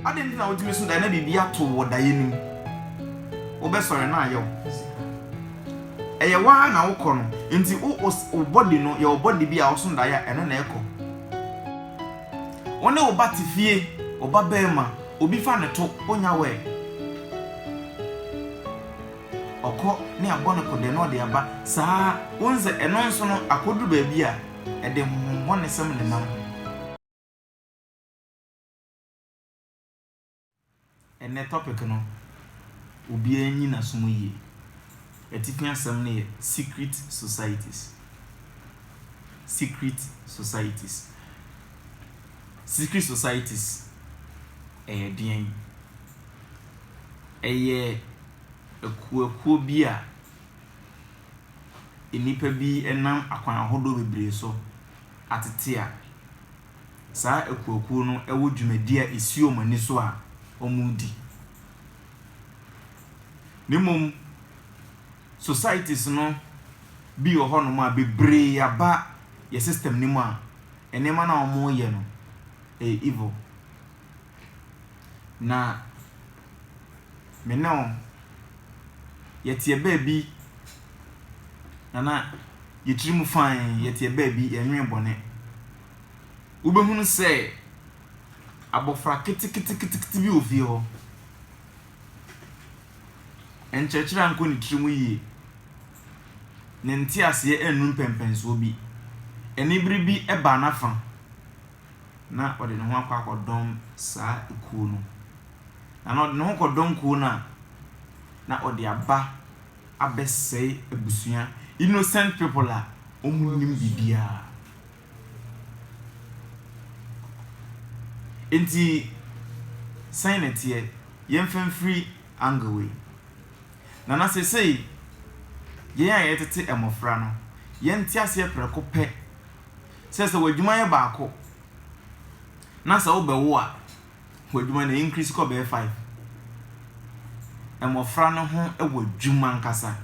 Adɛn nti na wotumi so dae na biribi ato wo wɔ daeɛ no mu? Wobɛsɔre na ayɛ wo dze. Ɛyɛ wo ara na wokɔ no, nti wo wo body no yɛ wo body bi a ɔso daeɛ a ɛno na ɛkɔ. Wo ne wo ba te fie, wo ba barima, obi fa no to, wonnya word. Ɔkɔ ne abɔ no kɔdɛ na ɔde aba saa ara. Wohu sɛ ɛno nso no akɔduru baabi a. Ɛde honhommɔnesɛm nenam ho. Ɛnnɛ topic no obiara nyi naso mu yie. Atifi asɛm no yɛ secret societies. Secret societies. Secret societies ɛyɛ deɛn? Ɛyɛ akuo akuo bi a. nnipa bi nam akwan ahodoɔ bebree so atete a, saa akuakuo no wɔ dwumadie a ɛsi wɔn ani so a wɔredi. Na mmom societies no bi wɔ hɔnom a bebree aba yɛn system no mu a, nneɛma no a wɔreyɛ no, ɛyɛ evil. Na me ne wɔn, yɛteɛ baabi, na na yɛn tirim fann, yɛteɛ baabi, yɛnnwen bɔne. Wobɛhunu sɛ abɔfra keteketekete bi wɔ fie hɔ. Nkyerɛkyerɛ ankɔ ne tirim yie. Ne nteaseɛ annu mpɛnpɛnsoɔ bi. Anibere bi baa n'afa. na ɔde ne ho akɔ akɔdɔm saa kuo no. Na na ɔde ne ho kɔdɔm kuo no a, na ɔde aba abɛsɛe abusua, innocent people a wɔnnim biribiara. Nti, sɛn na ɛteɛ? Yɛmfa mfiri angle wei. Na na seesei, yɛn a yɛtete mmɔfra no, yɛnte aseɛ prɛko pɛ sɛ sɛ w'adwuma yɛ baako na sɛ wobɛwo a, w'adwuma no increase kɔ bɛyɛ five. Mmɔfra no ho wɔ adwuma ankasa.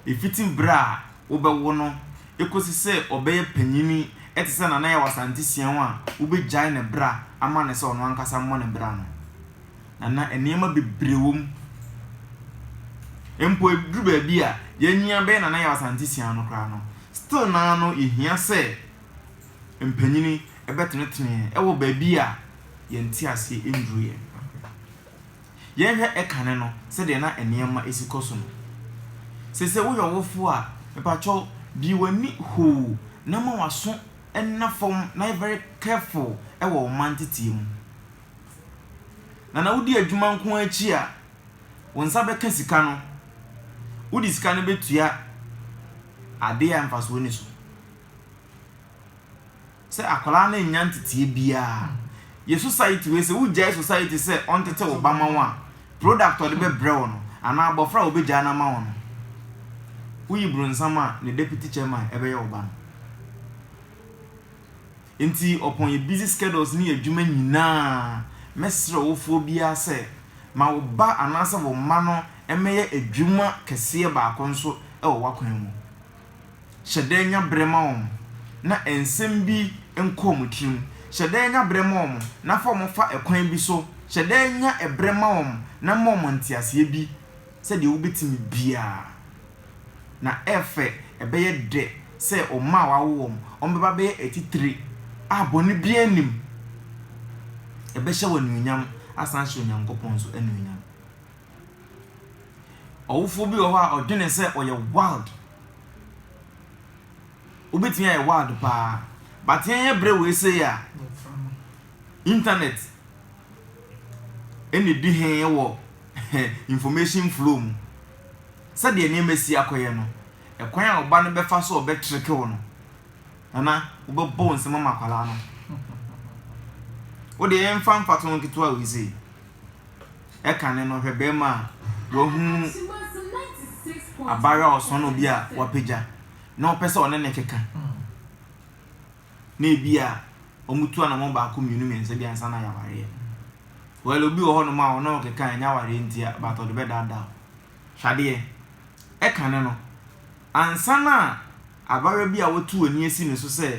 Ɛfiti berɛ a wobɛwo no kɔsi sɛ ɔbɛyɛ panyin te sɛ Nana Yaw Asante Siaw a wobɛgyae ne bra ama no sɛ ɔno ankasa mmɔ ne bra no. na na nneɛma bebree wɔ mu. Mpo ɛduru baabi a yɛanyia bɛyɛ Nana Yaw Asante Siaa no koraa no, still no ara no yɛhia sɛ mpanyin bɛtenetene yɛn wɔ baabi a yɛn nteaseɛ nnuru yɛn. Yɛnhwɛ kane no sɛdeɛ na nneɛma si kɔ so no. Seesei woyɛ ɔwofoɔ a, mepakyɛw bue w'ani hoo na ma w'aso nna fam na yɛ very careful wɔ wo mma nteteɛ mu. Na na wodi adwuma nko ara akyi a, wo nsa bɛka sika no, wode sika no bɛtua adeɛ a mfasoɔ nni so. Sɛ akwadaa no nnya nteteɛ biara, yɛ society wei sɛ wogyae society sɛ ɔntete wo ba ma wo a, product a ɔde bɛbrɛ wo no anaa abɔfra a wɔbɛgyaa no ama wo no, woyi bronsam a ne deputy chairman bɛyɛ wo ba no. Nti ɔpɔn yɛ busy schedules ne yɛ adwuma nyinaa. Mɛsrɛ ɔwofoɔ biara sɛ, ma wo ba anaasɛ wo mma no mmɛyɛ adwuma kɛseɛ baako nso wɔ w'akwan mu. Hyɛ da nya berɛ ma wɔn na nsɛm bi nkɔ wɔn tirim. Hyɛ da nya berɛ ma wɔn na fa wɔn fa ɛkwan bi so. Hyɛ da nya ɛberɛ ma wɔn na ma wɔn nteaseɛ bi sɛdeɛ wobɛtumi biara. Na ɛfɛ ɛbɛyɛ dɛ sɛ wɔn mma a wɔawo wɔn, wɔbɛba abɛyɛ atitire a bɔne biara nnim. Ɛbɛhyɛ wo anuonyam asan ahyɛ Onyankopɔn nso anuonyam. Ɔwofoɔ bi wɔ hɔ a ɔdwene sɛ ɔyɛ wild. Wobɛtumi ayɛ wild paa. But yɛnyɛ berɛ wei sei a, internet ɛna ɛdi he wɔ information flow mu. sɛdeɛ nneɛma si akɔyɛ no, ɛkwan a ɔba no bɛfa so a ɔbɛtreke wo no, Nana, wobɛbɔ wo nsam ama akwadaa no. Wo deɛ yɛmfa mfatoho nketewa wei sei. Ɛkane no, hwɛ bɛrima a wahu abaayewa a ɔsɔn obi a wapagya na ɔpɛ sɛ ɔne no keka. na ebi a wɔtu anamɔn baako mmienu mmiɛnsa bi ansa na yɛawareɛ. Well obi wɔ hɔnom a ɔno ɔkeka a ɛnyɛ awareɛ ntia but ɔde bɛdaadaa wo. Hwɛ adeɛ, ɛkane no ansa na abayewa bi a watu w'ani asi ne so sɛ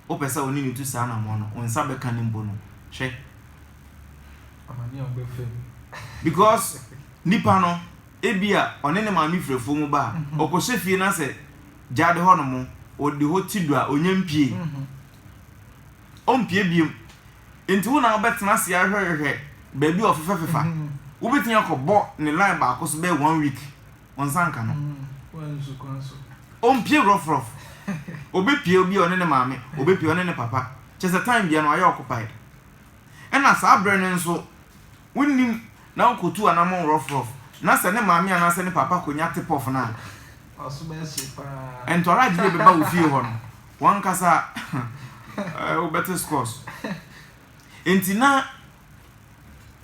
wopɛ sɛ wo ne no tu saa anamɔn no wo nsa bɛka no mpo no hwɛ. Amane a wobɛfa mu. Because nipa no Ebia ɔne ne maame firi afuo mu ba a, ɔkɔhyɛ fie no asɛ gyaade hɔnom, ɔde hɔ ti du a, ɔnnya mpue. Ɔmpue biom. Enti wo na wobɛtena ase ahwɛhwɛ baabi a ɔfefafefa. Wobɛtumi akɔbɔ ne line baako so bɛyɛ one week, wo nsa nka no. Ɔmpue rɔfrɔf. Ɔbɛpue bi a ɔne ne maame, ɔbɛpue ɔne ne papa. Kyerɛ sɛ time biara no wayɛ occupied. Ɛna saa berɛ no nso, wonnim na ɔkɔtu anammɔn rɔfrɔf na sɛ ne maame anaasɛ ne papa kɔnya tipɔf no a, ntɔragye de bɛba wo fie hɔ no, w'ankasa wobɛte scores. Enti na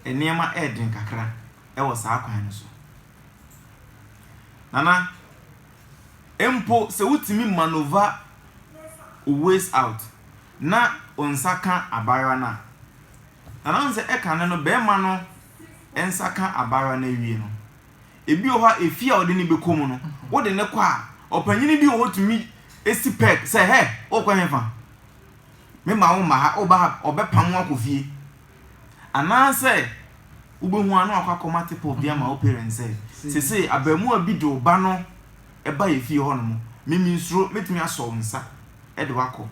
nneɛma yɛ den kakra wɔ saa kwan no so. Nana, mpo sɛ wotumi manoeuvre wo ways out na wo nsa ka abaayewa no a, Na na ɔsɛ sɛ ɛkane no barima no nsa ka abaayewa no awie no. Ebi wɔ hɔ a, efie a ɔde no bɛkɔ mu no, wode no kɔ a, ɔpanyin bi wɔ hɔ tumi si peg sɛ, Hɛ! Worekɔ hefa? Memma womma ha, woba ha a, ɔbɛpam wo akɔ fie. Anaasɛ wobɛhu a na wakɔ akɔma tipple de ama wo parents sɛ, Seesei abarimaa bi de wo ba no baeɛ fie hɔnom, me mensuro, mɛtumi asɔ wo nsa de wo akɔ.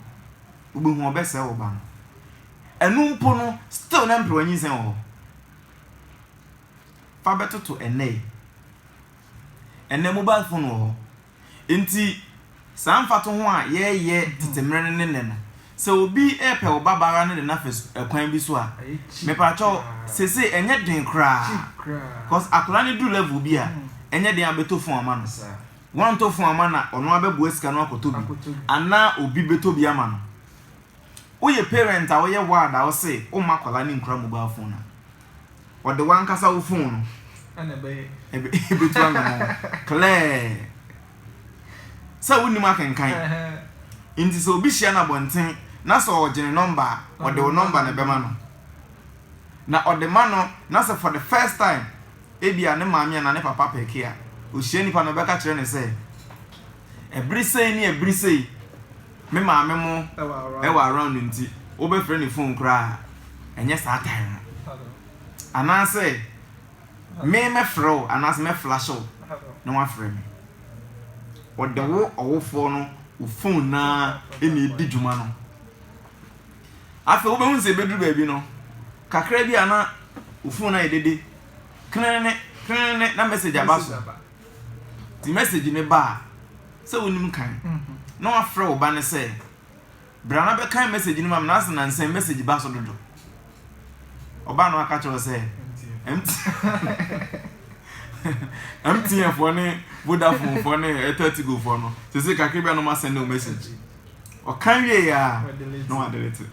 Wobɛhu a, ɔbɛsɛe wo ba no. Ɛno mpo no still na mperewa nyinsɛn wɔ hɔ. Fa bɛtoto ɛnnɛ yi. Ɛnnɛ mobile phone wɔ hɔ. Nti saa mfatoho a yɛɛyɛ tete mmerɛ no ne nnɛ no, sɛ obi repɛ wo ba baa no de no afa su ɛkwan bi so a, mepakyɛw sesei ɛnyɛ den koraa cos akwadaa no duru level bi a ɛnyɛ den a bɛtɔ phone ama no. Woantɔ phone amma no a ɔno ara bɛboa sika no akɔtɔ bi anaa obi bɛtɔ bi ama no. Woyɛ parent a woyɛ ward a wose womma akwadaa no nkura mobile phone a, ɔde w'ankasa wo phone no ɛbɛtu anamɔn klɛɛ sɛ wonnim akenkan. Nti sɛ obi hyia no abɔnten na sɛ ɔgye ne nɔmba a, ɔde wo nɔmba na ɛbɛma no. Na ɔde ma no na sɛ for the first time ebia ne maame anaa ne papa pɛke a, ohyia nipa no ɔbɛka kyerɛ no sɛ ɛbere sɛn ne ɛbere sei. Me maame mo wɔ around nti wobɛfrɛ ne phone koraa a ɛnyɛ saa time no anaasɛ me mɛfrɛ wo anaasɛ mɛ flash wo na wafrɛ me ɔde wo ɔwofoɔ no wo phone naa ɛna ɛdi dwuma no afei wobɛhu sɛ ɛbɛduru baabi no kakra bi a na wo phone ayɛ dede krenene krenene na message aba so Nti message no ba a, sɛ wonim kan, na wɔafrɛ wo ba no sɛ, Bra na bɛkan message no ma me, na ase nansa yi message ba so dodo. Ɔba no aka kyerɛ wo sɛ, MTN foɔ ne Vodafone foɔ ne Airtel Tigo foɔ no, sese kakra bi a na wɔn asɛn no message. Ɔkan wie yɛ a, na wɔadelete.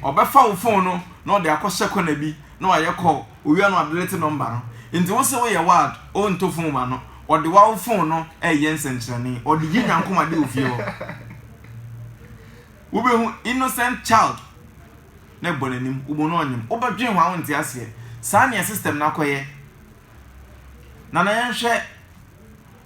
Ɔbɛfa wo phone no na ɔde akɔhyɛ kɔna bi na wɔayɛ call. Owia no adelete nɔmba no. Ntsi wo se woyɛ wild, o nto fon ma no, ɔde wawo fon no reyɛ nsɛnkyerɛnne, ɔde yi nyankomade wɔ fie hɔ. Wobehu innocent child na ebɔ n'anim, wobo no ɔnyem, wobɛdwen ho a wonte aseɛ. Saa nea system no akɔyɛ. Nana yɛnhwɛ.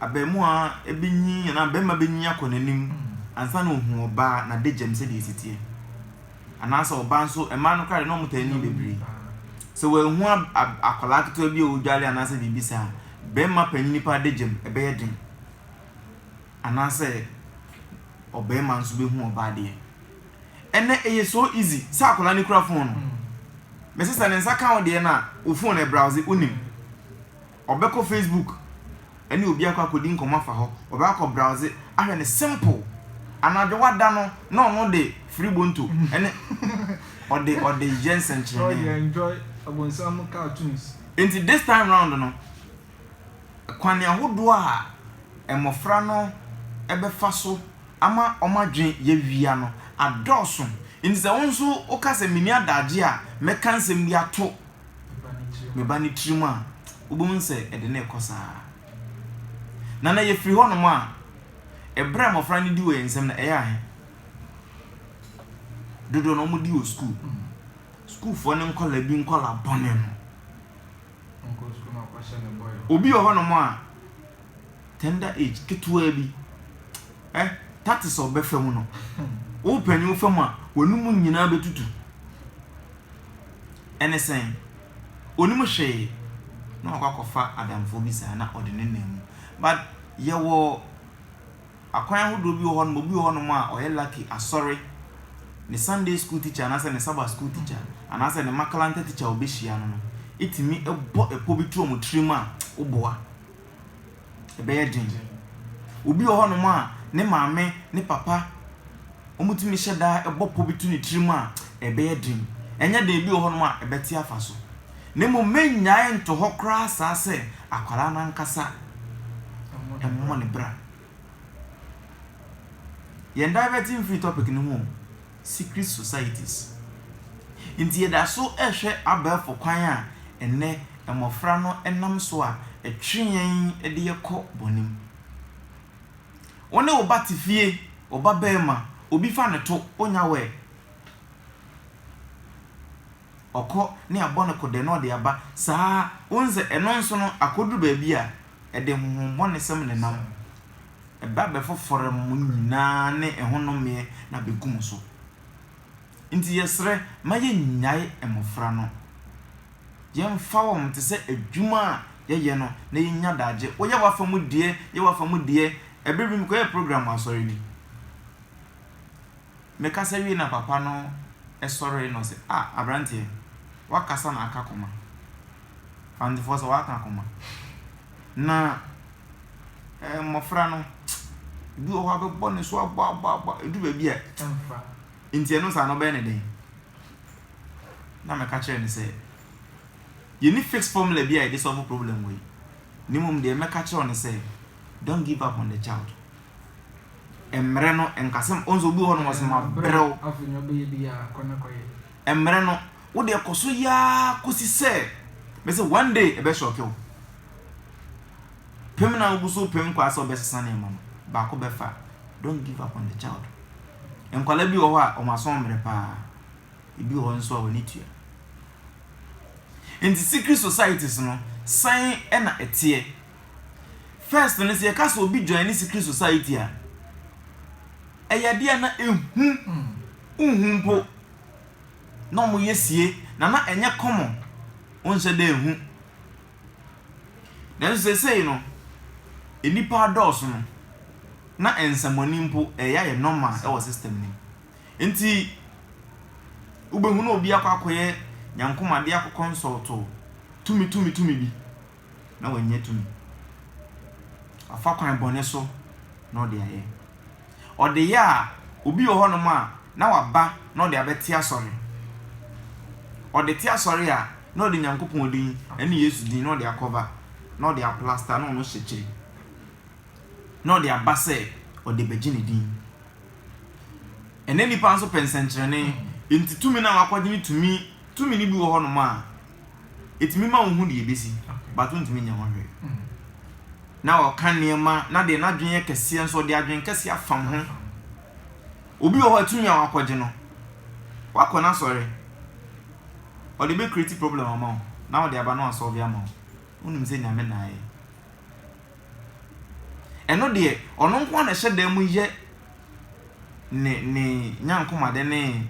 abarimaa bi nyin anaa barima bi nyin akɔ n'anim ansa na ohu ɔbaa n'adegyam sɛdeɛ ɛsi teɛ. Anaasɛ ɔbaa nso, mmaa no koraa deɛ na wɔtaa nyin bebree. Sɛ wanhu akwadaa ketewa bi a ɔredware anaasɛ biribi saa a, barima panin paa adegyam, ɛbɛyɛ den. Anaasɛ ɔbarima nso bɛhu ɔbaa deɛ. Ɛnnɛ, ɛyɛ so easy sɛ akwadaa no kura phone no. Mese sɛ ne nsa ka wo deɛ no a, wo phone ɛbrowse, wonim. Ɔbɛkɔ Facebook ɛne obi akɔ akɔdi nkɔmmɔ afa hɔ, ɔbɛkɔ akɔ browse ahwɛ no simple, anadwo wada no na ɔno de firi bonto ɛne ɔde ɔde yɛ nsɛnkyerɛnee. Enti this time round no, kwane ahodoɔ a mmɔfra no bɛfa so ama wɔn adwene yɛawia no adɔɔso, enti sɛ wo nso woka sɛ menni adagye a mɛka nsɛm bi ato me ba ne tirim a, wobɛhu sɛ ɛde no rekɔ saa ara. Na na yɛfiri hɔnom a, ɛberɛ a mmɔfra no di wɔ yɛn nsam no, ɛyɛ ahe? Dodoɔ no wɔdi wɔ sukuu. Sukuufoɔ ne nkɔla bi nkɔla bɔne no. Obi wɔ hɔnom a, tender age, ketewa bi, eh, tatis ɔbɛfa mu no, wopanyin wofa mu a, w'anum nyinaa bɛtutu. Ɛne sɛn? Onim hwee, na wakɔ akɔfa adamfoɔ bi saa na ɔde nenam mu. But yɛwɔ akwan ahodoɔ bi wɔ hɔnom, obi wɔ hɔnom a ɔyɛ lucky, asɔre, ne Sunday school teacher anaasɛ ne Sabbath school teacher anaasɛ ne makalanta teacher a ɔbɛhyia no no tumi bɔ ɛpɔ bi to wɔn tirim a, woboa. ɛbɛyɛ den. Obi wɔ hɔnom a, ne maame, ne papa, wɔtumi hyɛ da bɔ pɔ bi to ne tirim a, ɛbɛyɛ den. Ɛnyɛ den, ebi wɔ hɔnom a, ɛbɛte afa so. Na mmom mennyae nto hɔ koraa saa sɛ akwadaa no ankasa mmɔ ne bra. Yɛn diverte mfiri topic no ho o, secret societies. Enti yɛda so rehwɛ abɛɛfo kwan a ɛnnɛ mmofra no nam so a ɛtwe yɛn de yɛn kɔ bɔne mu. Wo ne wo ba te fie, wo ba barima, obi fa no to, onya wɔ ɛ, ɔkɔ ne abɔ no kɔdɛ na ɔde aba, saa ara, wohu sɛ ɛno nso no, akoduru baabi a, ɛde honhommɔnesɛm nenam ho, ɛba bɛfoforo mo nyinaa ne ɛhonomeɛ na bɛgu mo so. Nti yɛsrɛ ma yɛnnyae mmɔfra no. Yɛmfa wɔn te sɛ adwuma a yɛyɛ no na yɛnya daagye. Woyɛ w'afa mu deɛ, yɛ w'afa mu deɛ, ɛberɛ bi mekɔyɛɛ program wɔ asɔre bi. Mekasa wie na papa no sɔree na ɔse ah abranteɛ wakasa na aka koma Kwantefoɔ sɛ waka koma na eh mmɔfra no ebi wɔ hɔ a bɛbɔ ne so abɔ abɔ abɔ edu baabi a ɛmfa nti ɛno saa no ɔbɛyɛ ne dɛn na meka kyerɛ ne sɛ yɛni fix formula bi a yɛde solve problem wɔ yi ne mmom deɛ mɛka kyerɛ ne sɛ don't give up on the child Mmerɛ no nkasɛm ɔn sɛ obi wɔ hɔ nom ɔsɛ mabrɛ wo. Mmerɛ no wo deɛ kɔ so yɛ ara kɔsi sɛ bɛsɛ one day ɛbɛ shock wo. Pem na wogu so pem nkwadaa sɛ wɔbɛsesa nneɛma no baako bɛfa. Don't give up on the child. Nkwadaa bi wɔ hɔ a wɔn asɔn mmerɛ paa. Ebi wɔ hɔ nso a wɔn tua. Nti secret societies no sɛn na ɛteɛ? First no sɛ yɛka sɛ obi join ne secret society a, ɛyɛ adeɛ a na ehu nhu mpo na wɔyɛ sie na na ɛnyɛ common wonhyɛ da ehu. Nanso seesei no, nnipa adɔɔso no, na nsɛmmɔne mpo ɛyɛ ayɛ normal wɔ system no mu. Nti wobɛhunu obi akɔ akɔyɛ nyankomadeɛ akɔ consult tumi tumi tumi bi. na wannya tumi. Wafa kwan bɔne so na ɔde ayɛ. Ɔde yɛ a, obi wɔ hɔnom a, na waba na ɔde abɛte asɔre. Ɔde te asɔre a, na ɔde Nyankopɔn din ne Yesu din na ɔde akɔba, na ɔde aplasta na ɔno hyekyere, na ɔde aba sɛ ɔde bɛgye ne din. Ɛnnɛ nnipa nso pɛ nsɛnkyerɛnne, enti tumi no a wakɔgye no tumi, tumi no bi wɔ hɔnom a, Ɛtumi ma wohu deɛ ɛbɛsi but wontumi nyɛ ho hwee. Na ɔka nneɛma na deɛ n'adwene yɛ kɛseɛ nso ɔde adwene kɛseɛ afam ho. Obi wɔ hɔ a tumi a wakɔgye no, wakɔ n'asɔre, ɔde bɛ create problem ama wo na wode aba na wasɔlve ama wo. Wonim sɛ Nyame na ayɛ. Ɛno deɛ, ɔno nko ara na ɛhyɛ dan mu yɛ ne ne nyankomade ne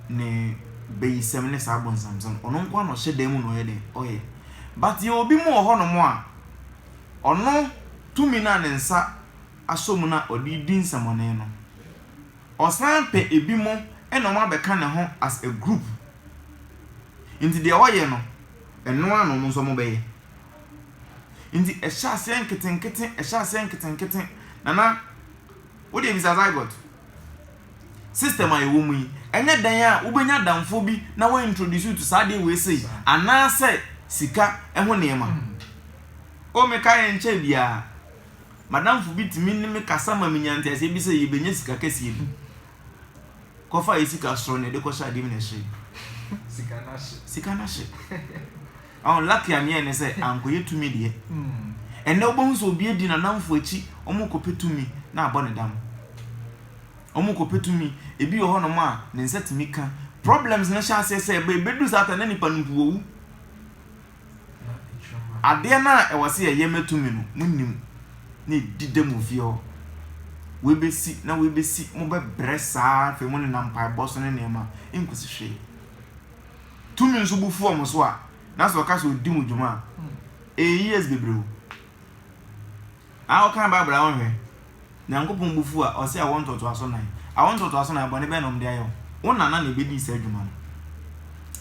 ne bayisɛm ne saa abonsamsɛm. Ɔno nko ara na ɔhyɛ dan mu na ɔyɛ dɛn? Ɔyɛ. But yɛwɔ bi mu wɔ hɔnom a, ɔno tumi no a ne nsa asɔ mu no a ɔde redi nsɛmmɔne no, ɔsan pɛ ebinom na wɔabɛka ne ho as a group. Nti deɛ ɔyɛ no, ɛno ara na wɔn nso wɔbɛyɛ. Nti ɛhyɛ aseɛ nketenkete, ɛhyɛ aseɛ nketenkete. Nana, wo deɛ bisa zygote. System a yɛwɔ mu yi, ɛnyɛ dan a wobɛnya adamfoɔ bi na wa introduce you to saa adeɛ wei sei, anaasɛ sika ɛho nneɛma. O me ka yɛ nkyɛ biara, madamfo bi tumi ne me kasa ma menya nteaseɛ bi sɛ yɛbɛnya sika kɛseɛ bi. Kɔfa yɛ sika soro na ɛde kɔhyɛ adeɛ mu na ɛhye. Sika no ahye. Sika no ahye. Ɔho lucky a neɛ ne sɛ ankɔyɛ tumi deɛ. Ɛnɛ wobɛhu sɛ obi adi nanamfo akyi ɔmo kɔpɛ tumi na abɔ ne dam. Ɔmo kɔpɛ tumi, ebi wɔ hɔ nom a ne nsa tumi ka. Problems no hyɛ aseɛ sɛ ɛba ɛbɛduru saa ta na nipa no mpo wawu. Adeɛ no a ɛwɔ sɛ yɛyɛ ma tumi no mo nim na ɛdi dɛm wɔ fie hɔ. Wei bɛsi na wei bɛsi, mo bɛbrɛ saa afei mo nenam mpaebɔ so ne nneɛma ɛnkɔsi hwee. tumi nso bo fu wɔn so a, na sɛ ɔka sɛ odi mu dwuma a, ɛyɛ years bebree o. Aa wokan Bible a wonhwɛ? Nyankopɔn bo fu a, ɔse awo ntoatoaso nnan. Awo ntoatoaso nnan, bɔne bɛn na wɔde ayɛ wo? Wo nana na ebedii saa dwuma no.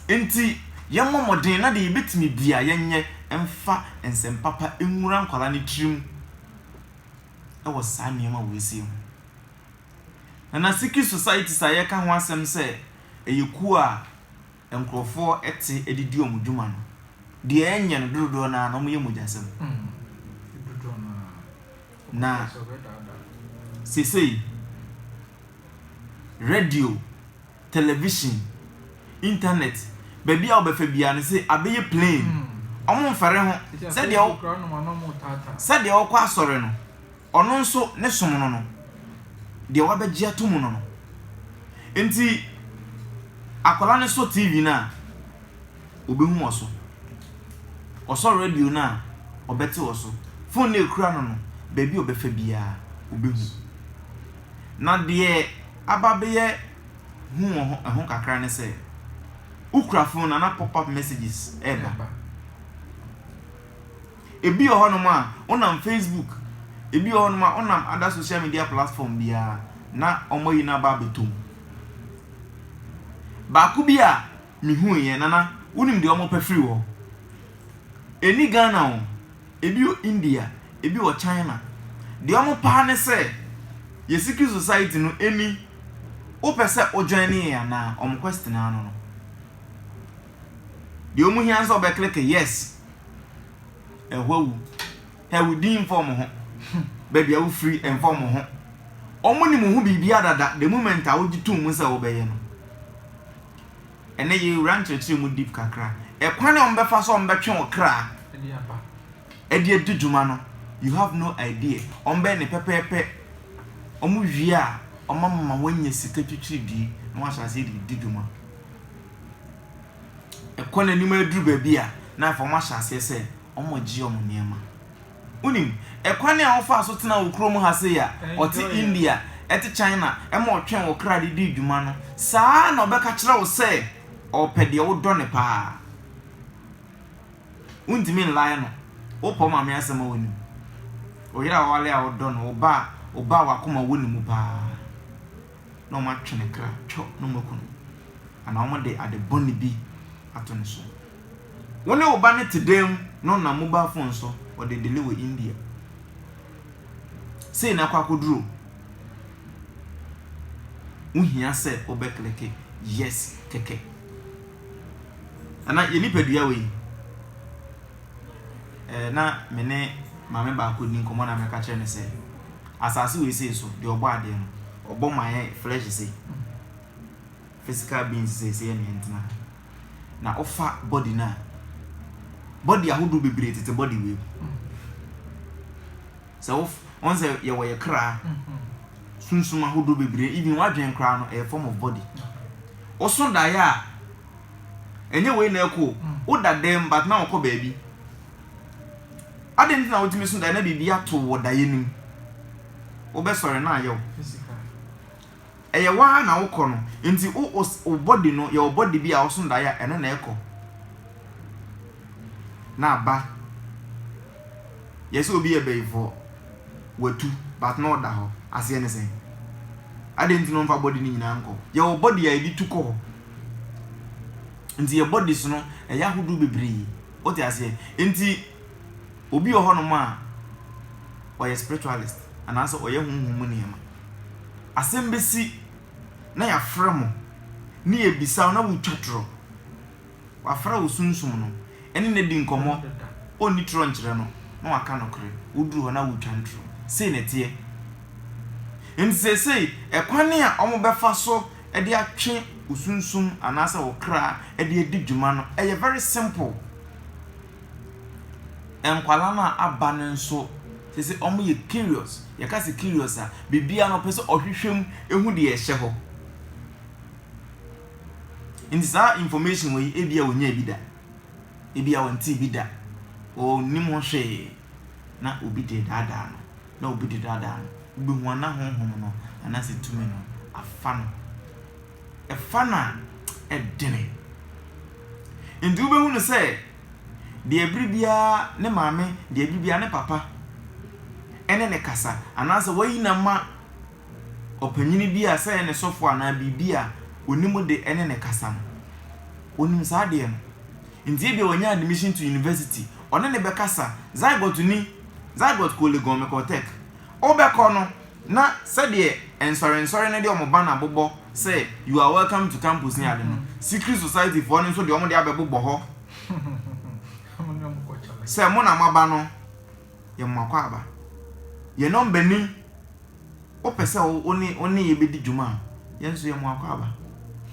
Enti yɛmmɔ mmɔden na deɛ yɛbɛtumi biara yɛnyɛ mfa nsɛm papa nwura nkwadaa no tirim wɔ saa nneɛma wei sei ho. Nana Sikhi Societies a yɛka ho asɛm sɛ ɛyɛ kuo a nkorɔfoɔ te de di wɔn dwuma no, deɛ ɛnyɛ no dododoɔ no ara no wɔyɛ mogyasɛm. Na seesei radio, television, internet, baabi a wobɛfa biara no sɛ abɛyɛ plain, wɔmfɛre ho, sɛdeɛ wokɔ asɔre no. Ɔno nso ne som no no, deɛ wabɛgye ato mu no no. Enti akwadaa no sɔ TV no a, ɔbɛhu wɔ so. Ɔsɔ radio no a, ɔbɛte wɔ so. Fon no a ɛkura no no, baabi a ɔbɛfa biara, ɔbɛhu. Na deɛ aba abɛyɛ hu wɔ ho, ɛho kakra ne sɛ, wokura fon no a, na pop-up messages reba. Ebi wɔ hɔnom a, wonam Facebook, ebi wɔ hɔnom a, wonam other social media platform biara na wɔayi no aba abɛtɔ mu. Baako bi a mehuiɛ, Nana, wonim deɛ wɔpɛ firi hɔ? Ɛnni Ghana o, ebi wɔ India, ebi wɔ China. Deɛ wɔpɛ ara ne sɛ yɛn secret society no ɛni, wopɛ sɛ wo join yɛn anaa? Wɔn question ara no no. Deɛ ɔmu hia ne sɛ ɔbɛ click yes. Ɛhɔ awu. Hɛ wo din mfa ɔmo ho. Baabi a wo firi ɛmfa ɔmo ho. Ɔmo nim wo ho biribiara dada the moment a wo gye tom mu sɛ wo bɛyɛ no. Ɛnɛ yɛ wura nkyerɛkyerɛ mu deep kakra. Ɛkwan a ɔmo bɛfa so a ɔmo bɛtwe wo kra ɛde adi dwuma no you have no idea. Ɔmo bɛyɛ no pɛpɛɛpɛ. Ɔmo wie a ɔmo ama wanya sika twitwiridie na wahyɛ aseɛ de adi dwuma. ɛkɔ n'anim aduru baabi a, na afei wɔahyɛ aseɛ sɛ wɔregye wɔn nneɛma. Wonim, ɛkwan a wɔfaa so tenaa wɔ kurom ha sei a ɔte India, ɛte China, ɛma ɔtwɛn wɔ kra de dii dwuma no, saa ara na ɔbɛka akyerɛ wo sɛ ɔpɛ deɛ wodɔ no pa ara. Wontumi nlae no. Wopɛ wo maame asɛm a, wonim. Wo yere a wawale a wodɔ no, wo ba a, wo ba a wakoma wɔ ne mu pa ara. na wɔatwe ne kra twɔ na wɔaku no, anaa wɔde ade bɔne bi ato ne so. Wo ne wo ba no te dan mu na ɔnam mobile phone so ɔde dele wɔ India. Sei na akɔ akɔduru o. Wohia sɛ wobɛkleke yes kɛkɛ. Anaa yɛn nipadua wei. eh, na me ne maame baako di nkɔmmɔ na meka kyerɛ no sɛ, Asase wei sei so, deɛ ɔbɔ adeɛ no, ɔbɔ ma yɛ flesh sei, physical beings sei sɛ yɛne yɛntena ha. Na wofa body no a, body ahodoɔ bebree tete body wei mu. Sɛ wɔn sɛ yɛwɔ yɛ kra, sunsum ahodoɔ bebree, even w'adwene koraa no ɛyɛ form of body. Woso daeɛ a, Ɛnyɛ wei na ɛkɔ o. Woda dɛm but na wokɔ baabi. Adɛn nti na wotumi so daeɛ na biribi ato wo wɔ daeɛ no mu? Wobɛsɔre na ayɛ wo physical. Ɛyɛ wo ara na wokɔ no. Nti wo wo body no, yɛwɔ body bi a woso daeɛ a ɛno na ɛkɔ na aba. Yɛse obi yɛ bayifoɔ, watu but na ɔda hɔ. Aseɛ ne sɛn? Adɛn nti na ɔmfa body no nyinaa nkɔ? Yɛwɔ body a yɛde tu kɔ hɔ. Nti yɛ bodies no ɛyɛ ahodoɔ bebree. Wote aseɛ? Nti obi wɔ hɔnom a ɔyɛ spiritualist anaasɛ ɔyɛ honhom mu nneɛma. Asɛm bɛsi na yɛafrɛ mo ne yɛbisa wo na wotwa torɔ. Wafrɛ wo sunsum no ɛne no adi nkɔmmɔ, ɔnni torɔ nkyerɛ no na waka nokorɛ. Woduru hɔ na wotwa no torɔ. Sei na ɛteɛ. Nti seesei ɛkwan a wɔbɛfa so de atwe wo sunsum anaasɛ wo kra de adi dwuma no, ɛyɛ very simple. Nkwadaa no a aba no nso, te sɛ wɔyɛ curious. Yɛka sɛ curious a, biribiara no ɔpɛ sɛ ɔhwehwɛ mu hu deɛ ɛhyɛ hɔ. Nti saa information wɔ yi, ebia wɔnyaa bi da, ebia wɔntee bi da, wɔnim ho hwee na obi deɛ daadaa no. na obi redaadaa no, wubehu a na honhom no anaasɛ tumi no afa no. Ɛfa no a, ɛdene. Enti wubehu no sɛ deɛ bere biara ne maame, deɛ bere biara ne papa ne no kasa, anaasɛ wɔayi no ama ɔpanyin bi a sɛ ɛyɛ ne sɔfo anaa biribi a onim de ne no kasa no, onim saa adeɛ no. Enti ebia wanya admission to university, ɔne no bɛkasa. Zygoteni. Zygot kɔɔ Legon, mekɔɔ Tɛk. Wobɛkɔ no, na sɛdeɛ nsɔrensɔre no de wɔn banner bobɔ sɛ You are welcome to campus ne ade no, Secret Society foɔ no nso de wɔn de abɛbobɔ hɔ sɛ mo na moaba no, yɛ mo akwaaba. Yɛ number ni, wopɛ sɛ wo ne yɛ bɛdi dwuma a, yɛn nso yɛ mo akwaaba.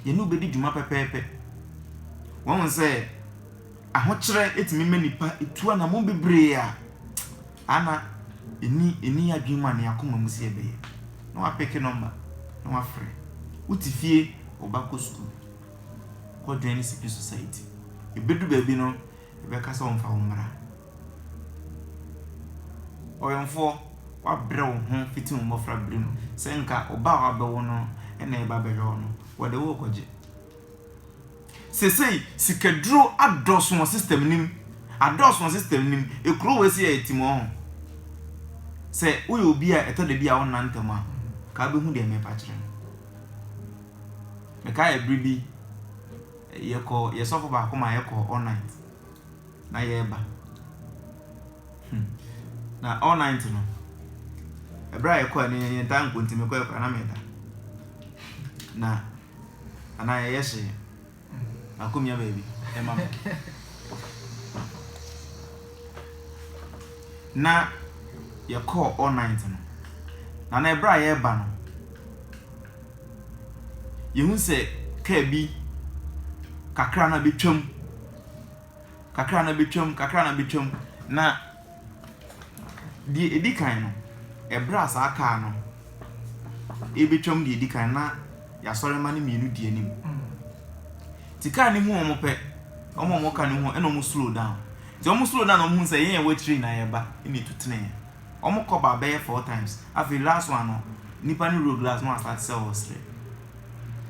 Yɛne wo bɛdi dwuma pɛpɛɛpɛ. Wahu sɛ. Ahokyerɛ tumi ma nnipa tu anammɔn bebree a ana ɛnni ɛnni yɛn adwene mu anaa yɛn akoma mu sɛ yɛbɛyɛ. Na wɔapeke nɔmba, na wɔafrɛ. Wote fie, wo ba kɔ sukuu, kɔ join ne secret society. Ɛbɛdu baabi no, ɛbɛka sɛ wɔmfa wo mmra. Ɔwɛmfoɔ, woabrɛ wo ho fiti wo mmɔfra bere mu. Sɛ anka wo ba a wɔabɛwo no na ɛreba abɛhwɛ wo no, wɔde wo rekɔgye. Sesei sikaduro adɔso wɔ system no mu, adɔso wɔ system no mu, ekuro wei so yɛyɛ timɔɔho. Sɛ woyɛ obi a ɛtɔ da bi a wonna ntɛm a, nka wobɛhu deɛ merepa kyerɛ no. Mekae ɛbere bi, yɛkɔ yɛ sɔfo baako ma yɛkɔ all night, na yɛreba. Hmm. Na all night no, ɛbere a yɛkɔɛ no yɛntaa nkɔ nti mekɔɛ koraa na meda. Na Anaa yɛyɛ hye na kɔ mia baabi de ma me. Na yɛkɔɔ all night no, na na ɛberɛ a yɛreba no, yɛhu sɛ kaa bi kakra na bɛtwam, kakra na bɛtwam, kakra na bɛtwam, na. Deɛ ɛdi kan no, ɛberɛ a saa kaa no rebɛtwam deɛ ɛdi kan no, na yɛasɔre mma no mmienu di anim. Nti kaa no hu wɔn pɛ, wɔn a wɔwɔ kaa no ho ɛna wɔn slow down. Nti wɔn slow down na wɔn hu sɛ yɛn yɛwɔ akyire na yɛreba ɛna ɛtu tenee. Wɔn kɔ baa bɛyɛ four times. Afei last one no, nipa no roll glass na wɔn asate sɛ wɔresere.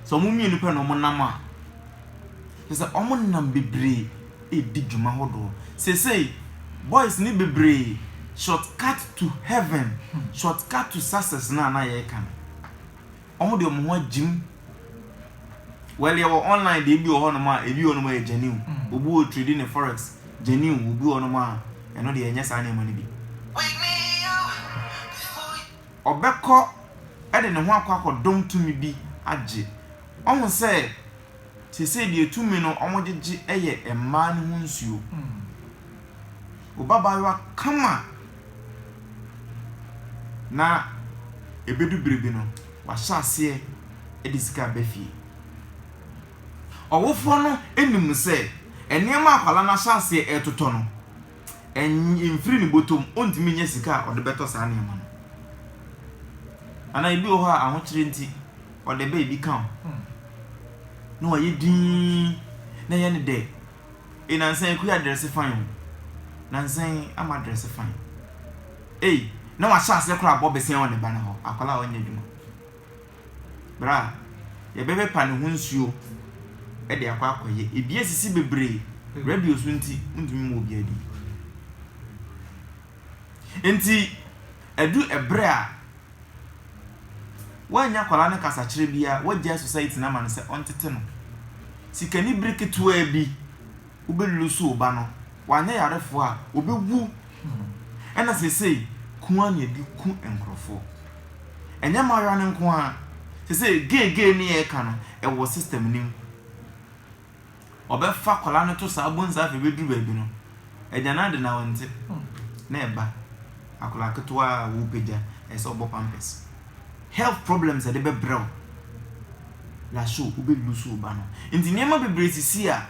Sɛ wɔn mmienu pɛ na wɔn nam a. Kyerɛ sɛ wɔnam bebree redi dwuma hodoɔ. Seesei boys no bebree short cut to heaven, short cut to success no a na yɛreka no, wɔde wɔn ho agyim. Well yɛwɔ online deɛ ebi wɔ hɔnom a ebi wɔ hɔnom a ɛyɛ genuine. Mm. Obi wɔ trading ne forex genuine, obi wɔ hɔnom a ɛno deɛ ɛnyɛ saa nneɛma no bi. Ɔbɛkɔ de ne ho akɔ akɔdɔm tumi bi agye. Ɔhu sɛ te sɛ deɛ tumi no wɔgyegye yɛ mmaa no ho nsuo. Wo babaayewa kama na ɛbɛdu berɛ bi no, wahyɛ aseɛ de sika aba fie. Ɔwofoɔ no nim sɛ nneɛma a akwadaa no ahyɛ aseɛ retotɔ no, ɛmfiri ne bɔtɔm, ɔntumi nyɛ sika a ɔde bɛtɔ saa nneɛma no. Anaa ebi wɔ hɔ a ahokyerɛ nti ɔdɛ bɛyɛ bi kã ho na ɔayɛ dzinn na yɛnye no dɛ, Ei, nansã yi kua dɛrse fann o, nansã yi ama dɛrse fann. Ei, na ɔahyɛ ase koraa abɔ bɛsɛn wɔ ne ba no hɔ, akwadaa a ɔnnyɛ edwuma. Ber a yɛbɛpepa no ho nsuo de akɔ akɔyɛ, bi esisi beberee, radio so ntsi wonntumi mma obiara bi. Ntsi, edu ber a. Woannya akwadaa no kasakyerɛ biara, wagyae society no ama no sɛ ɔntete no. Sikani bere ketewaa bi, wobɛlusu wo ba no, wanyɛ yarefoɔ a, ɔbɛwu. Ɛna seesei, ku ara na yɛde ku nkorɔfoɔ. Ɛnyɛ mmaayewa no nko ara, seesei gay gay no yɛreka no, ɛwɔ system no mu. Ɔbɛfa akwadaa no to saa bonsai afei bɛduru baabi no, agya no ade na ɔnte. Na ɛba, akwadaa ketewa a worepagya, ɛsɛ sɛ ɔbɔ pampers. Health problems a ɛde bɛbrɛ wo, last show wobɛ lose wo ba no. Nti nneɛma bebree sisi a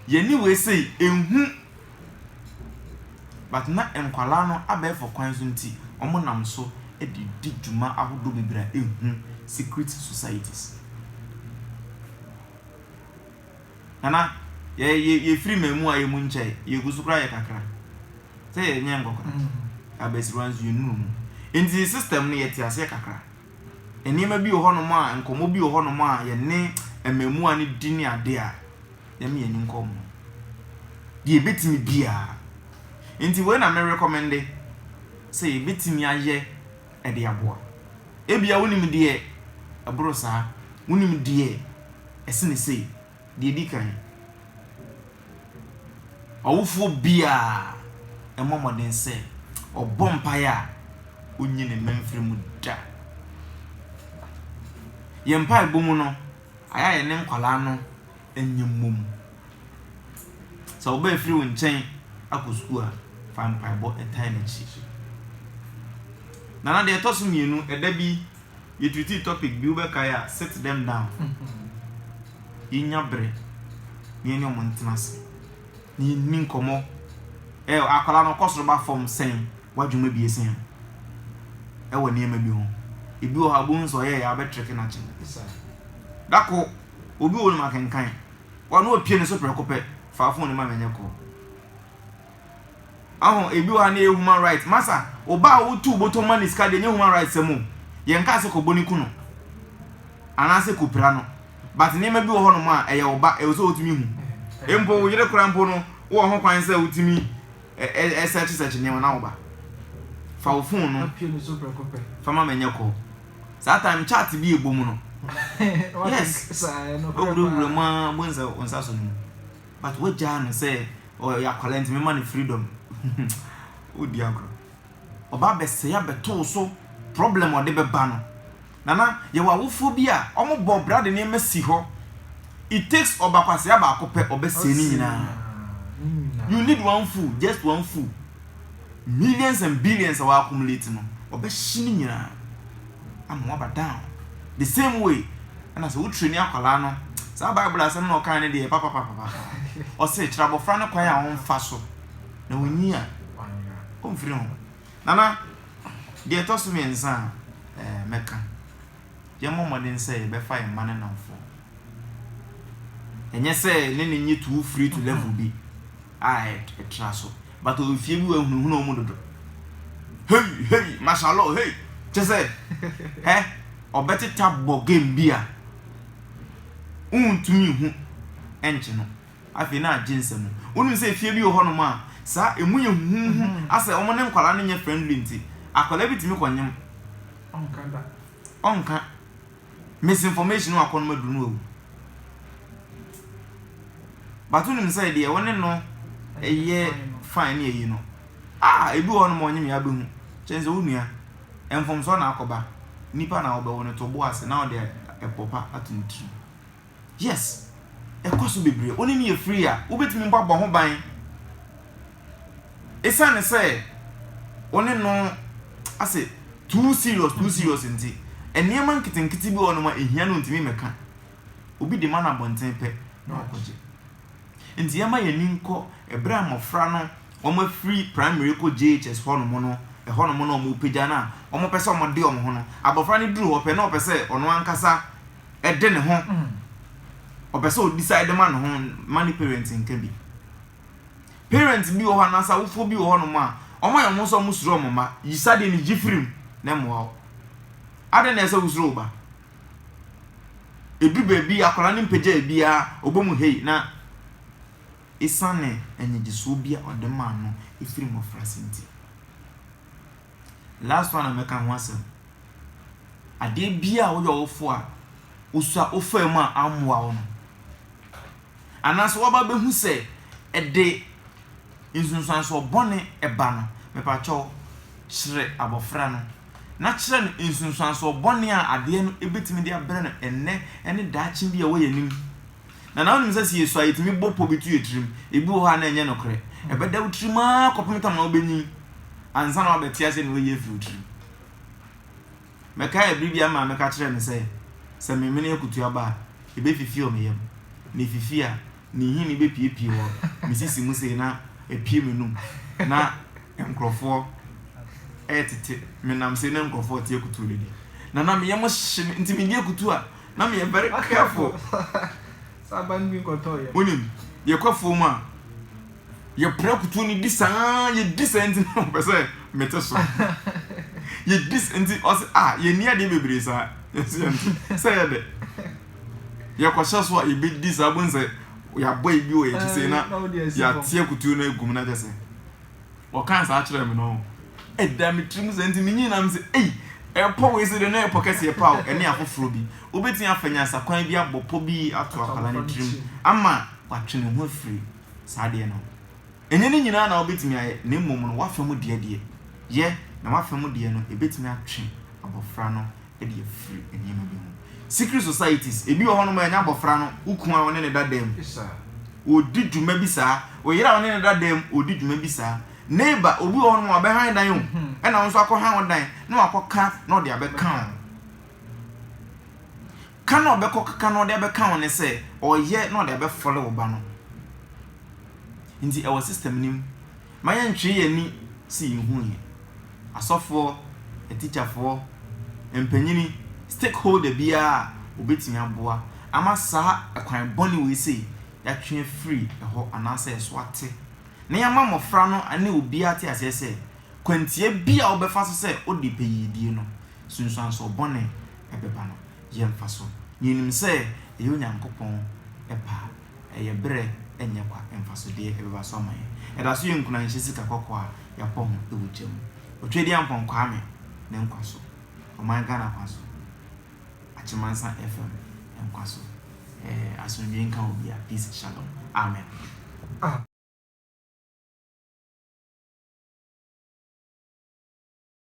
yɛne wei sei ɛnhu but na nkwadaa no abɛɛfo kwan so nti wɔnam so de di dwuma ahodoɔ bebree a ɛnhu, secret societies. Nana, yɛ yɛ yɛfiri mmamu a yɛ mu nkyɛe, yɛgu so koraa yɛ kakra. Sɛ yɛnyɛ nkɔkora, abasiriwa nso yɛnnuru mu. Nti system no yɛte aseɛ kakra. Nneɛma bi wɔ hɔnom a, nkɔmmɔ bi wɔ hɔnom a yɛne mmamuwa no di ne adeɛ a, yɛma yɛn ani nkɔ wɔn ho. Deɛ yɛbɛtumi biara. Nti wei na me recommende sɛ yɛbɛtumi ayɛ. de aboa. Ebia wunim deɛ ɛboro saa, wunim deɛ ɛsene sei. Deɛ ɛdi kan, ɔwofoɔ biara mmɔ mmɔden sɛ ɔbɔ mpaeɛ a ɔnyi ne mma mfiri mu da. Yɛn mpaebɔ mu no, ayɛ a yɛne nkwadaa no nyɛ mmom. Sɛ wo ba refiri wo nkyɛn akɔ sukuu a, fa mpaebɔ tan n'akyi. Nana, deɛ ɛtɔ so mmienu, ɛda bi yɛtiritii topic bi wobɛkae a, sit them down. Yɛnya berɛ na yɛne wɔn ntena ase na yɛnni nkɔmmɔ. Ɛ akwadaa no ɔkɔ soro ba fam sɛn w'adwuma bi ɛsɛn no ɛwɔ nneɛma bi ho. Ebi wɔ hɔ a wobɛhu sɛ ɔyɛeɛ a wobɛtrɛke no akyɛ no. Da ko obi wɔ hɔ no makenkan. Wa no opie ne so prɛko pɛ fa phone no ma me nyɛ call Aho ebi wɔ ha na ɛyɛ human right masa oba a wotu botom ma ne sika deɛ nyɛ human right sɛm o yɛn kaa sɛ kɔbɔ ne ku no anaasɛ kɔpira no but nneɛma bi wɔ hɔ nom a ɛyɛ oba ɛwɔ sɛ wotumi hu mpo wo yere kora mpo no wowɔ ho kwan sɛ wotumi Ɛ search search nneɛma na wo ba. Fa wo phone no fa ma me nyɛ call. Saa time chat bi ɛbɔ mu no. Yes. Wawura wura mu a bohu sɛ wo nsa so no mu. But wagyaa no sɛ ɔyɛ akwadaa nti mema no freedom. Wodi agorɔ. Ɔba abɛsɛe abɛto wo so, problem a ɔde bɛba no. Nana, yɛwɔ awofoɔ bi a, wɔbɔ bra de nneɛma si hɔ, it takes ɔbakwasea baako pɛ, ɔbɛsɛe ne nyinaa. You need one fool, just one fool, millions and billions a w'accumulate no, ɔbɛhye ne nyinaa ama w'aba down. The same way, ɛna sɛ wo traini akwadaa no, saa Bible asɛm na ɔkae no deɛ, papapapapa, ɔse kyerɛ abɔfra no kwan a ɔmfa so. na ɔnyi a, ɔmfiri ho. Nana, deɛ ɛtɔ so mmiɛnsa a eh, mɛka, yɛmmɔ mmɔden sɛ yɛbɛfa yɛn mma no nnamfoɔ. Ɛnyɛ sɛ ne ne nye too free to level bi a ɛtra so, but ɔwɔ fie bi wahunahuna wɔn dodo. Hei, hei, mashallah, hei, kyɛ sɛ, hɛ, ɔbɛteta bɔ game bi a, wontumi nhu nkye no. Afei na agye nsam. Wonim sɛ fie bi wɔ hɔnom a, saa emu yɛ huhuuhu asɛ wɔn ne nkwadaa no nyɛ friendly nti, akwadaa bi tumi kɔ nyem. Ɔnka da. Ɔnka. Misinformation no akɔnom aduru no wawu. But wonim sɛ deɛ wo ne no ɛyɛ fine ne ayi no, ah, ebi wɔ hɔnom a ɔnyem yɛ abɛhu. Kyɛn sɛ wo nua, mfomsoɔ na akɔba. Nipa na wɔbɛwo no to bo ase na wɔde ɛpɔ pa ato ne tirim. Yes, ɛkɔ so bebree. Wo ne no yɛ free a, wobɛtumi mpo abɔ ho ban. Ɛsiane sɛ wo ne no asɛ too serious, too serious nti, nneɛma nketenkete bi wɔ hɔnom a ɛhia no ntumi mmɛka. Obi de ma no abɔnten pɛ na wakɔgye. Nti yɛma yɛn ani nkɔ ɛberɛ a mmɔfra no wɔafiri primary kɔ JHS hɔnom no, ɛhɔnom na wɔrepagya no a wɔpɛ sɛ wɔde wɔn ho no, abɔfra no duru hɔ pɛ na ɔpɛ sɛ ɔno ankasa de ne ho ɔpɛ sɛ ɔdecide de ma ne ho ma ne parent nka bi parent bi wɔ hɔ anaasɛ awofoɔ bi wɔ hɔnom a ɔma yɛ ɔmo sɛ ɔmo suro ɔmo ma yisa deɛ ne gye firim na mmoa wo adɛn na ɛsɛ wosuro wo ba ɛduru baabi akwadaa no mpagya biara ɔbɔ mu hei na ɛsiane anyigyesoɔ bi a ɔde maa no ɛfiri mmɔfra se nti Last one a mɛka ho asɛm, adeɛ biara a woyɛ ɔwofo a wosua wofaa mu a ammoa wo no, anaasɛ woaba bɛhu sɛ ɛde nsunsuansoɔ bɔne ɛba no, mepakyɛw kyerɛ abɔfra no na kyerɛ no nsunsuansoɔ bɔne a adeɛ no ɛbɛtumi de abrɛ no ɛnnɛ ne daakye bi a ɛwɔ yɛn anim. Nanaa wonim sɛ sɛ yɛsu a yɛtumi bɔ pɔ bi to yɛn tirim? Ebi wɔ hɔ a na ɛnyɛ nokorɛ. Ɛbɛda wo tirim ara kɔpem tam a wobɛnyini ansa na woabɛte aseɛ na woayi afiri wo tirim. Mɛkae ɛberɛ bi a me maame ka kyerɛɛ me sɛ sɛ memene akutu aba a, ɛbɛfifi wɔ me yam. Na ɛfifi a, ne nhini bɛpuepue wɔ me sisi mu sei na apue m'anum na nkorɔfoɔ retete me nam sei na nkorɔfoɔ rete akutuo no di. Nanaa me yam hye me nti medi akutu a na meyɛ very careful wonim yɛkɔ afuo mu a yɛpra kutuo no di saa yɛdi saa nti na ɔpɛ sɛ mete so yɛdi nti ɔsɛ a yɛni adeɛ bebree saa yɛsɛ yɛnte sɛ yɛ dɛ yɛkɔhyɛ so a yɛbɛdi saa bɛhu sɛ yɛabɔ ebi wɔ yɛkyi sei na yɛateɛ kutuo no agum no akyɛ sɛ Wɔkaa saa kyerɛɛ me no, ɛdaa me tirim saa nti minyin na mise, 'Ei, ɛpɔ wei se deɛ na ɛyɛ pɔ kɛseɛ paa o, ɛne afoforɔ bi. Wobɛtumi afa nyansakwan bi abɔ pɔ bi ato akwadaa no tirim ama watwe ne ho afiri saa adeɛ no ho. Ɛnyɛ ne nyinaa na wobɛtumi ayɛ, na mmom no, w'afa mu deɛ deɛ, yɛ, na w'afa mu deɛ no, ɛbɛtumi atwe abɔfra no de afiri nneɛma bi ho. Secret societies, ebi wɔ hɔnom a ɛnyɛ abɔfra no, wo kunu a wo ne no da dan mu, ɔdi dwuma bi saa, wo yere a wo ne no da dan mu, ɔdi dwuma bi saa, neighbor, obi wɔ hɔnom a ɔbɛhan dan o, ɛna wo nso akɔhan wo dan na wakɔka na ɔde abɛka wo. Ka na ɔbɛkɔkeka na ɔde abɛka wo ne sɛ, ɔyɛ na ɔde abɛfɔle wo ba no. Nti ɛwɔ system no mu. Mma yɛntwee yɛn ani si nhu he. Asɔfoɔ, atikyafoɔ, mpanyini, stakeholder biaa a obetumi aboa ama saa kwan bɔne wei sei yɛatwe afiri hɔ anaasɛ yɛso ate na yɛama mmɔfra no ne obiaa te aseɛ sɛ kwantia bi a wobɛfa so sɛ wode pɛyiedie no sunsuansoɔ bɔne bɛba no yɛmfa so na yɛnim sɛ ɛyɛ Onyankopɔn pɛ a ɛyɛ berɛ ɛnyɛ kwa mfasodeɛ ɛbɛba so ama yɛn. Ɛda so yɛ nkunanhyɛ sika kɔkɔɔ a yɛapɔ ho wɔ gya mu. Otwedeɛ Ampɔn Kwame ne nkwa so, ɔman Ghana kwa so, Akyemangsa FM nkwa so. Ɛɛ asomdwie nka obia, peace shalom. Amen.